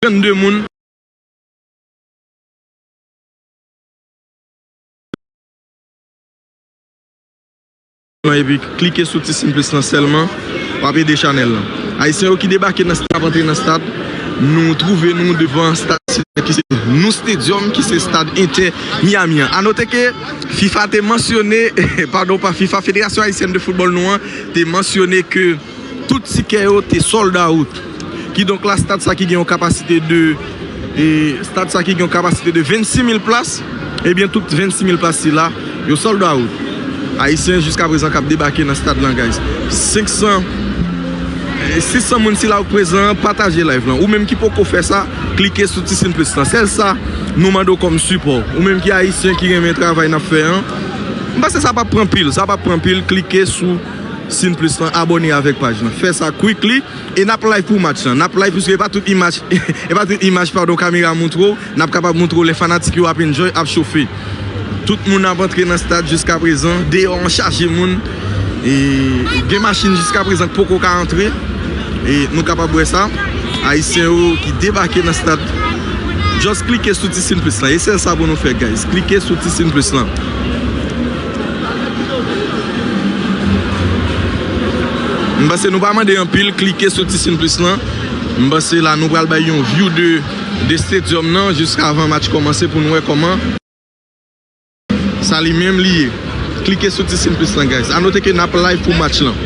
32 moun lan epi klike sou ti sin plis lan sèlman wap ede chanèl lan. Ayisyen yo ki debake nan stad ap antre nan stad nou twouve nou devan stad Sila ki se Nou Stadium ki se stad Inter Miami an. A note ke fifa te mansyone padon pa fifa Federasyon Ayisyèn de Foutbòl nou an te mansyone ke. Tout tikè yo te sold out. Kidonk la stad sa ki gen yon kapasite de stad sa ki gen yon kapasite de 26 mil plas ebyen tout 26 mil plas sila yo sold out. Ayisyen jiska prezan k ap debake nan stad lan guys. 500 600 moun sila yo k prezan an pataje live lan. Ou menm ki poko fè sa klike sou ti sin plis lan. Sèl sa nou mande w kòm sipò. Ou menm ki ayisyen ki renmen travay n ap fè an. M panse sa p ap pran pil sa p ap pran pil klike sou. Sin plus lan abone avek paj lan fè sa quickly e nap live pou match lan nap live pwiske epa tout imaj epa tout imaj pardon kamera moutrew nap kapab moutrew lè fanatik yo ap enjoy ap chofe tout moun ap antre nan stad jiskaprezan deyò an chaje moun e gen machin jiskaprezan ki poko ka antre e nou kapab wè sa ayisyen yo ki debake nan stad just klike sou ti sin plus lan e sèl sa pou nou fè guys klike sou ti sin plus lan. M panse nou pa mande anpil klike sou ti sin plis lan m panse la nou pral bay yon view de stadium nan jis avan match kòmanse pou nou wè kòman sa li menm li ye klike sou ti sin plis lan guys a note ke nap live pou match lan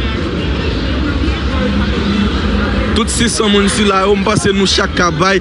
tout 600 moun sila yo m panse nou chak ka bay.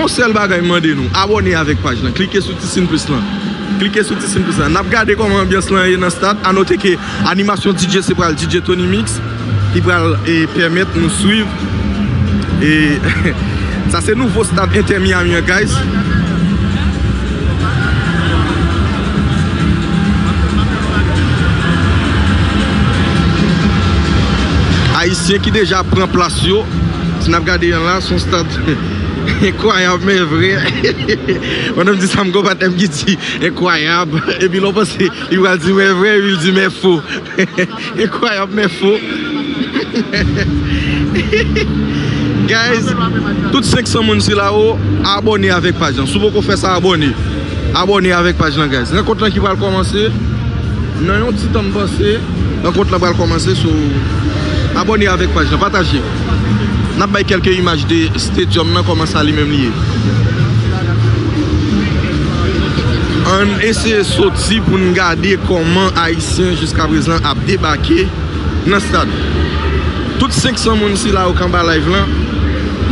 On sèl bagay m mande nou, abòne avèk paj lan, klike sou ti sin plis lan, klike sou ti sin plis lan. Nap gade kòman anbyans lan ye nan stad, anote ke animasyon DJ se pral DJ Tony Mix ki pral pèmèt nou swiv e sa se nouvo stad Inter Miami an guys. Ayisyen ki deja pran plas yo, si nap gade yon la son stad. Enkwayab men vre Yon nonm di sa m gen yon patnè m ki di enkwayab epi lè w panse li pral di men vre epi l di men fo Enkwayab men fo Guys tout 500 moun sila yo abòne avèk paj lan si w poko fè sa abòne Abòne avèk paj lan guys Rankont lan ki pral kòmanse nan yon ti tan m panse Rankont lan pral kòmanse so Abòne avèk paj lan pataje. Nap bay kelke imaj de stadium nan koman sa li menm li ye. Ann eseye soti pou n gade koman ayisyen jiska prezan ap debake nan stad. Tout 500 moun sila yo k anba live lan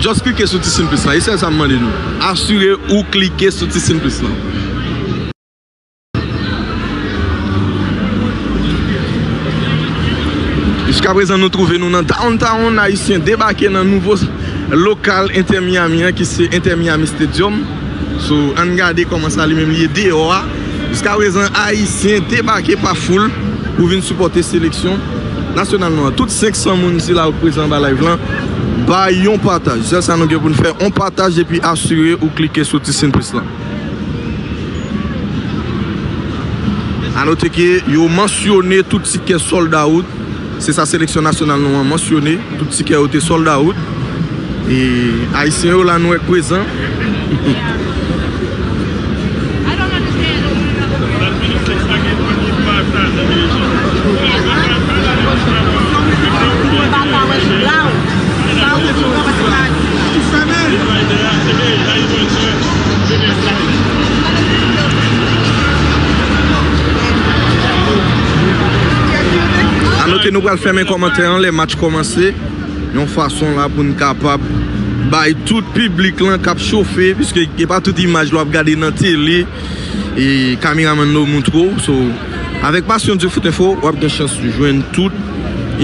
just klike sou ti sin plis lan e sèl sa m mande nou asire ou klike sou ti sin plis lan. Jiska prezan nou twouve nou nan Downtown, Ayisyen debake nan nouvo lokal Inter Miami an ki se Inter Miami Stadium. So ann gade kòman sa li menm li ye deyò a. Jiska prezan Ayisyen debake pa foul pou vin sipòte seleksyon nasyonal nou an. Tout 500 moun sila yo ki prezan anba live lan bay yon pataj. Sèl sa nou gen pou n fè, on pataj epi asire ou klike sou ti sin plis lan. A note ke yo mansyone tout tikè sold out, se sa seleksyon nasyonal nou an mansyone, tout tikè yo te sold out. E Ayisyen yo la nou wè k prezan. A note nou pral fèmen kòmantè an lè match kòmanse yon fason la pou n kapab bay tout piblik lan k ap chofe piske e pa tout imaj lwa p gade nan tele e kameramann la ou montre w so. Avèk pasyon Dieu fout info wap gen chans jwenn tout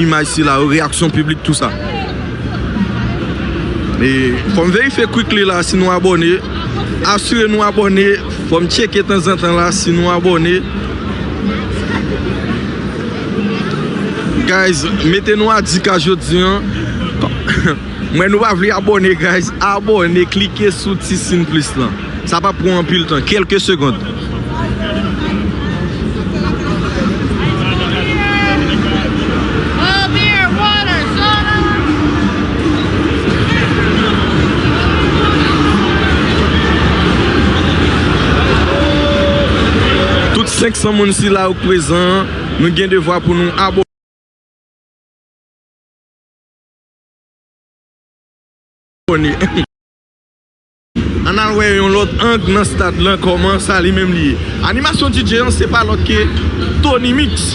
imaj sila yo, reyaksyon piblik tout sa. E fòm verifye quickly la si nou abòne, asire nou abòne, fòm tcheke tanzantan la si nou abòne. Guys mete nou a 10 ka jodi an. Mwen nou pa vle abone guys abone klike sou ti sin plis lan sa pap pran anpil tan kelke segond. Tout 500 moun sila yo k prezan nou gen devwa pou nou abone. Ann al wè yon lòt ang nan stad lan kòman sa li menm li ye. Animasyon DJ an se pa lòt ke Tony Mix.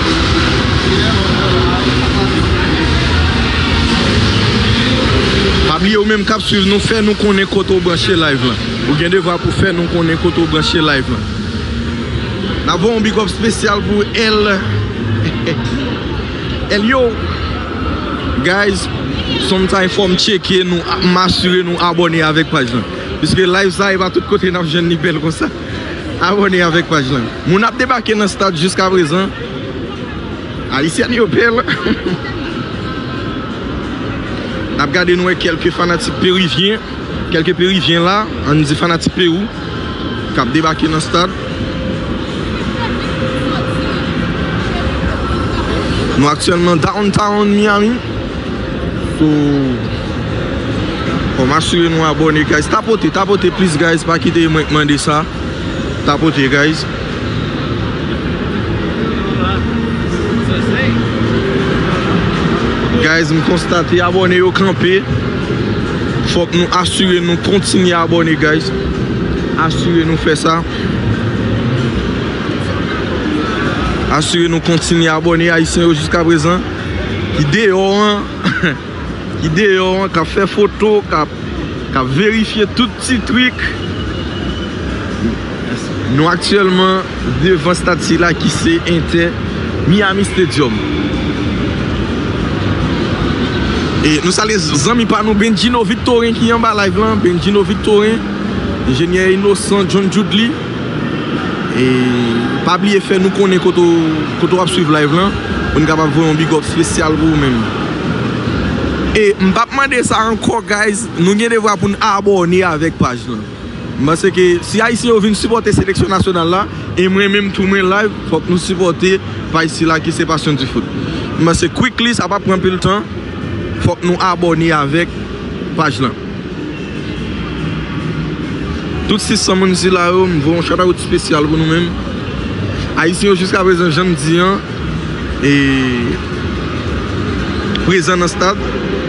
Pa bliye ou menm kap swiv nou fè nou konnen kote ou branche live lan. Ou gen devwa pou fè nou konnen kote ou branche live lan. Nap voye yon big up spesyal pou El Elio Guys sometime fòm tcheke nou, m'asire nou abòne avèk paj lan. Piske live sa e pa tout kote nap jwenn li bèl konsa. Abone avek paj lan. Moun ap debake nan stad jiskaprezan. Ayisyèn yo pè lan. Nap gade nou wè kelke fanatik perivyen. Kelke perivyen la. An nou di fanatik perou. Kap debake nan stad. Nou aktyèlman downtown Miami. So Kom asire nou abone guys Tapote tapote plis guys pa kite mwen k mande sa Tapote guys. Guys m konstate abone yo kanpe Fok nou asire nou kontinye abone guys Asire nou fe sa Asire nou kontinye abone ayisyen yo jiska prezan. ki deyò an, ki deyò an kap fè foto, kap verifye tout ti trik. Nou aktyèlman devan stad sila ki se Inter Miami Stadium. E nou salye zanmi pa nou Bendjino Victorin ki anba live lan, Bendjino Victorin, Enjenyè Innocent John Djoudly. E pa bliye fè nou konnen kote w kote w ap swiv live lan pou n kapab voye yon big up spesyal pou ou menm. E m pap mande sa ankò guys nou gen devwa pou n abòne avèk paj lan. M panse ke si ayisyen yo vin sipòte seleksyon nasyonal la e mwen menm tou mwen la fòk nou sipòte paj sila ki se passion du foot. M panse quickly sa pap pran anpil tan fòk nou abòne avèk paj lan. Tout 600 moun sila yo, m voye yon shoutout spesyal pou nou menm. Ayisyen yo jiska prezan jan m di an e prezan nan stad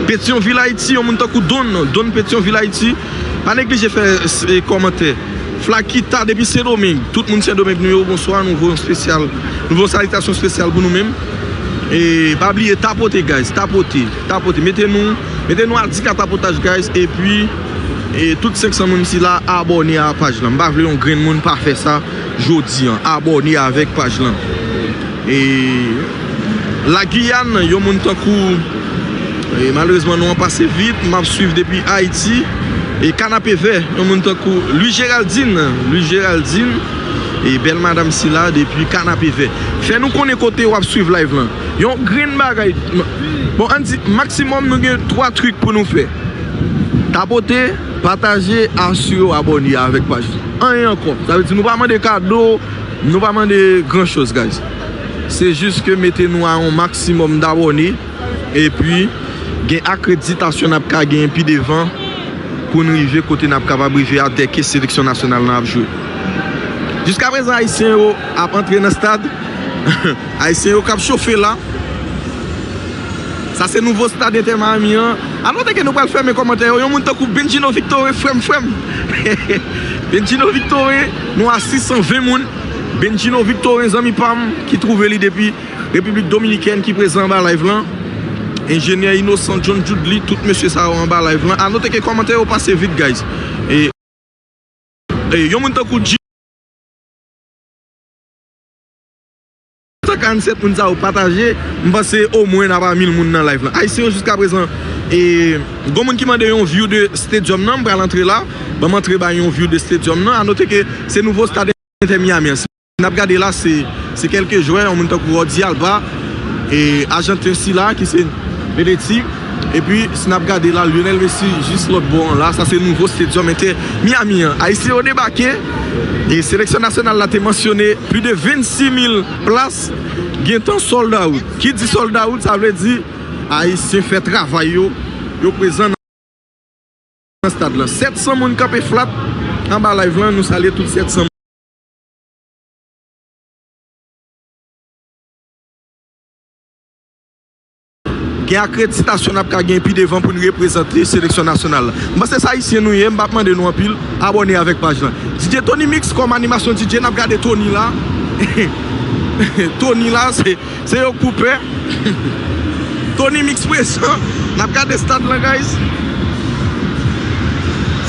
Petyonvil Ayiti. Yon moun tankou Don, Don Petyonvil Ayiti pa neglije fè kòmantè. Flakita depi Sendomeng, tout moun Sendomeng nou yo bonswa, nou voye yon spesyal, nou voye yon salitasyon spesyal pou nou menm. E pa bliye tapote guys, tapote. Tapote mete nou Mete nou adik a tapotaj guys epi e tout 500 moun sila abòne a paj lan m pa vle yon grenn moun pa fè sa jodi an abòne avèk paj lan e la Guyane yon moun tankou e malerezman non an pase vit m ap swiv depi Ayiti e kanapevè yon moun tankou Louis Géraldine Louis Géraldine e bèl madam sila depi kanapevè fè nou konnen kote w ap swiv live lan Yon grenn bagay Bon ann di maximum nou gen 3 trik pou nou fè Tapote, pataje, asire w abòne avèk paj la Anyen ankò Sa vle di nou pa mande kado Nou pa mande gran choz guys Se jis ke mete nou a yon maximum dabòne Epi gen akreditasyon nap ka genyen pi devan Pou n rive kote nap kapab rive a dè ke seleksyon nasyonal lan ap jwe Jiskaprezan ayisyen yo ap antre nan stad Ayisyen yo kap chofe la. Sa se nouvo stad Inter Miami an. Alon dege nou pral fèmen kòmantè yo. Yon moun tankou Bendjino Victorin frèm frèm. Bendjino Victorin nou a 620 moun. Bendjino Victorin zanmi pam ki trouve li depi Repiblik Dominikèn ki prezan anba live lan. Enjenyè Innocent, John Judly tout mesye sa yo anba live lan. Anote ke kòmantè yo pase vit guys. Yon moun tankou G. Sa 47 moun sa yo pataje m panse o mwen nap a 1000 moun nan live lan ayisyen yo jiska prezan e gon moun ki mande yon view de stadium nan m pral antre la banm antre bay yon view de stadium nan a note ke se nouvo stad inter miami an si nap gade la se kelke jwè yon moun tankou Rody Alba e ajanten sila ki se Benetti. Epi, si n ap gade la, Lionel Messi jis lòt bò an la, sa se nouvo Stadium Inter Miami an. Ayisyen yo debake e seleksyon nasyonal la te mansyone plis de 26 mil plas gentan sold out. Ki di sold out, sa vle di Ayisyen fè travay yo, yo prezan nan stad lan. 700 moun kanpe flat anba live lan, nou salye tout 700 moun. Gen akreditasyon n ap ka gen pi devan pou n reprezante seleksyon nasyonal la. M panse se Ayisyen nou ye, m pa p mande nou anpil, abòne avèk paj lan. DJ Tony Mix kòm animasyon DJ n ap gade Tony la Tony la se yon koupè Tony Mix prezan N ap gade stad lan guys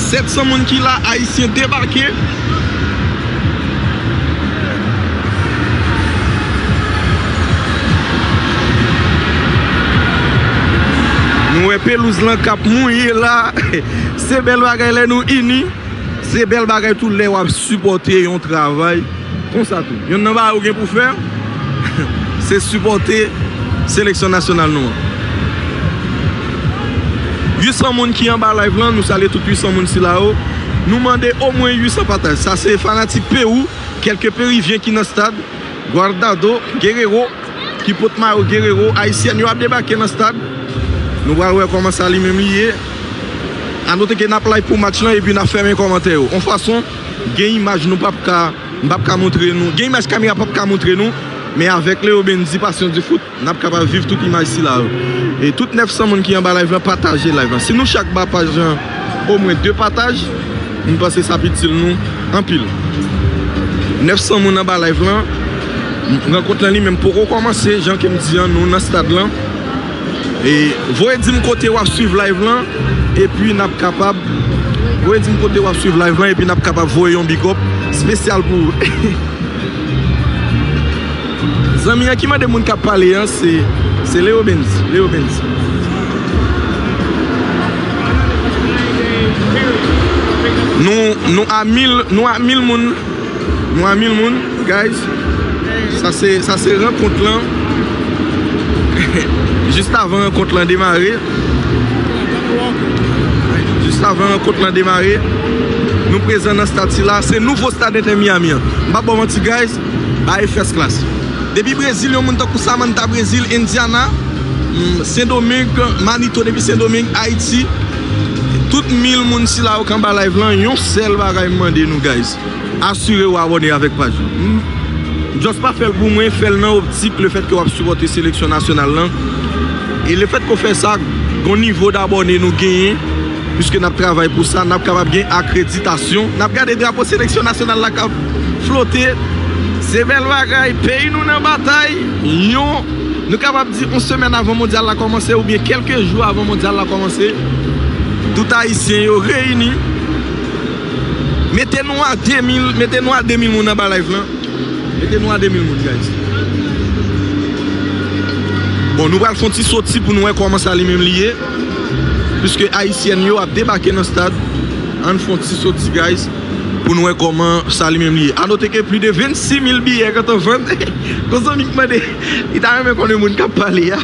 700 moun ki la Ayisyen debake. Nou wè pelouz lan k ap mouye la. Se bèl bagay lè nou ini. Se bèl bagay tou lè w ap sipòte yon travay konsa tou. Yonn nan bagay ou gen pou fè. Se sipòte seleksyon nasyonal nou an. 800 moun ki anba live lan, nou salye tout 800 moun sila yo. Nou mande omwen 800 pataj. Sa se fanatik Pewou, kèlke Perivyen ki nan stad. Guardado, Guerrero, ki pot mayo Guerrero. Ayisyèn yo ap debake nan stad. Nou pral wè kòman sa li menm li ye. Anote ke n ap live pou match lan epi n ap fèmen kòmantè yo. On fason gen imaj nou pap ka. m pap ka montre nou, gen imaj kamera pap ka montre nou, men avèk Leo Bendy Passion du foot, n ap kapab viv tout imaj sila yo. E tout 900 moun ki anba live lan pataje live lan. Si nou chak ba paj lan omwen 2 pataj, m panse sa ap itil nou anpil. 900 moun anba live lan, rankont lan li menm poko kòmanse, jan ke m di an nou nan stad lan. Voye dim kote wap swiv live lan epi nap kapab Voye dim kote wap swiv live lan epi nap kapab voye yon big up spesyal pou ou Zanmi an ki mande moun kap pale an se Leo Benz Leo Benz Nou a mil moun Mwen a mil moun guys. Sa se rankont lan. Jist avan rankont lan demare. Jist avan rankont lan demare. Nou prezan nan stad sila. Se nouvo stad Inter Miami an. M pa baw manti guys. Bagay first class. Depi Brezil yon moun tankou Samantha Brezil, Indiana, Sen Domeng, Manito depi Sen Domeng, Ayiti. Tout mil moun sila yo k anba live lan. Yon sèl bagay m mande nou guys. Asire ou abòne avèk paj la. M just pa fèl pou mwen, fèl nan optik le fèt ke wap sipòte seleksyon nasyonal lan. E le fèt ke w fè sa, gon nivo dabòne nou genyen, piske nap travay pou sa, nap kapab gen akreditasyon, nap gade drapo seleksyon nasyonal la kap flote, se bèl bagay, peyi nou nan batay, yon, nou kapab di yon semèn avan mondyal la kòmanse oubyen kèlke jou avan mondyal la kòmanse, tout ayisyen yo reyini. Mete nou a 2000 mete nou a 2000 moun anba live lan mete nou a 2000 moun guys bon nou pral fon ti soti pou nou wè kòman sa li menm li ye piske ayisyèn yo ap debake nan stad ann fon ti soti guys pou nou wè kòman sa li menm li ye a note ke pli de 26000 biyè gentan vann kon zanmi k mande li ta renmen konnen moun kap pale a.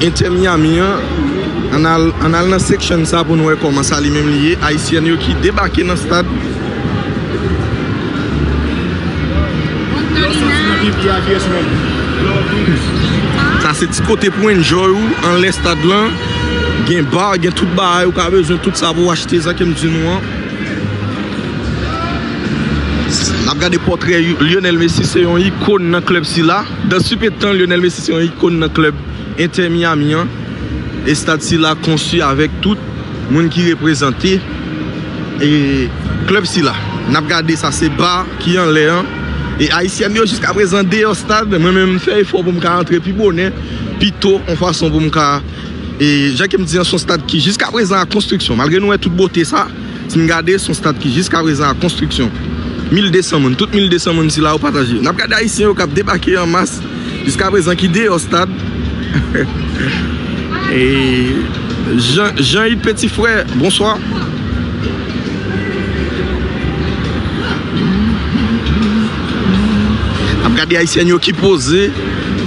Inter Miami an An al An al nan section sa pou nou wè kòman sa li menm li ye Ayisyèn yo ki debake nan stad Lè w soti nan vil Biye a kiyès menm Lè w vini Sa se ti kote pou enjoy ou anlè stad lan Gen bar gen tout bagay ou ka bezwen tout sa pou w achte sa ke m di nou an N ap gade pòtrè Lionel Messi se yon ikon nan klèb sila. Dans Supe Tan, Lionel Messi se yon ikon nan klèb Inter Miami an. Estad sila konstwi avèk tout moun ki reprezante klèb sila. N ap gade sa se ba ki anlè an. E Ayisyèn yo jiska prezan deyò stad. Mwen menm m fè efò pou m ka antre pi bonè, pi to yon fason pou m ka. Jan ke m di an se yon stad ki jiska prezan an konstriksyon. Malgre nou wè tout bote sa. Si n gade, s on stat ki jiska prezan an konstriksyon. 1200 moun, tout 1200 moun sila yo pataje. N ap gade Ayisyen yo k ap debake an mas jiska prezan ki deyò stad. Jean Yde Petit Frère, bonswa. N ap gade Ayisyèn yo ki poze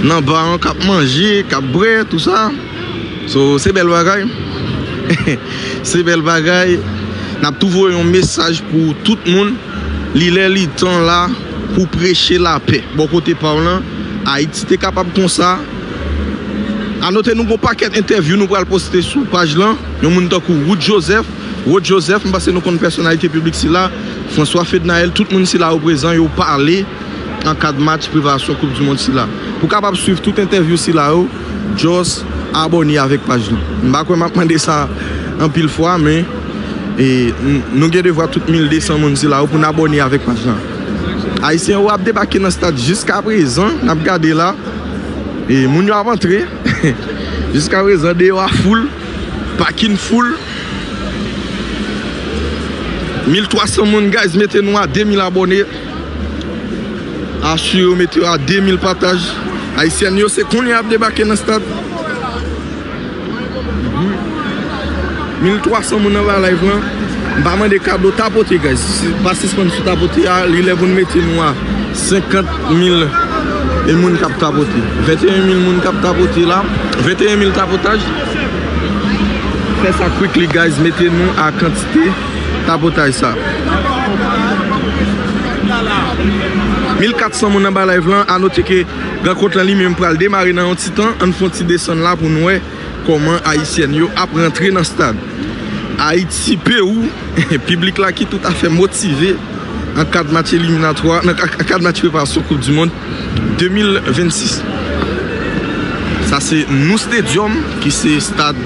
nan ba an k ap manje, k ap bwè, tou sa. So se bèl bagay Se bèl bagay Nap tou voye yon mesaj pou tout moun Li lè li tan la pou preche lapè Bò kote paw lan Ayiti te kapab konsa Anote nou gon pakèt entèvyou nou pral poste sou paj lan Yon moun tankou Wood Joseph Rod Joseph m panse nou konn pèsonalite piblik sila François Fednaelle tout moun sila yo prezan yo pale Nan kad match preparasyon koup di mond sila Pou kapab swiv tout entèvyou sila yo. Just abone avek paj nou. M pa kwè map mande sa anpil fwa men nou gen devwa tout 1200 moun sila yo poun abone avek paj la. Ayisyen yo ap debake nan stad jiskaprezan nap gade la moun yo ap antre jiskaprezan deyò a foul pakin foul 1300 moun guys mete nou a 2000 abone. Asire w mete yo a 2000 pataj. Ayisyèn yo se kounye a ap debake nan stad. 1300 moun anba live lan. M pa mande kado, tapote guys. Pa sispann sou tapote a. Li lè pou nou mete nou a 50000 e moun kap tapote. 21000 moun kap tapote la. 21000 tapotaj. Fè sa quickly guys. Mete nou a kantite. Tapotay sa. 1400 moun anba live lan, a note ke rankont lan li menm pral demare nan yon ti tan, ann fon ti desann la pou n wè kòman ayisyèn yo ap rantre nan stad Ayiti Pewou, piblik la ki tout afè motive nan kad match eliminatwa, nan kad match preparasyon koup di mond. 2026 Sa se Nou Stadium ki se stad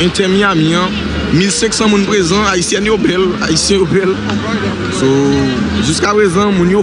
Inter Miami an 1500 moun prezan Ayisyèn yo bèl Ayisyen yo bèl So jiskaprezan moun yo.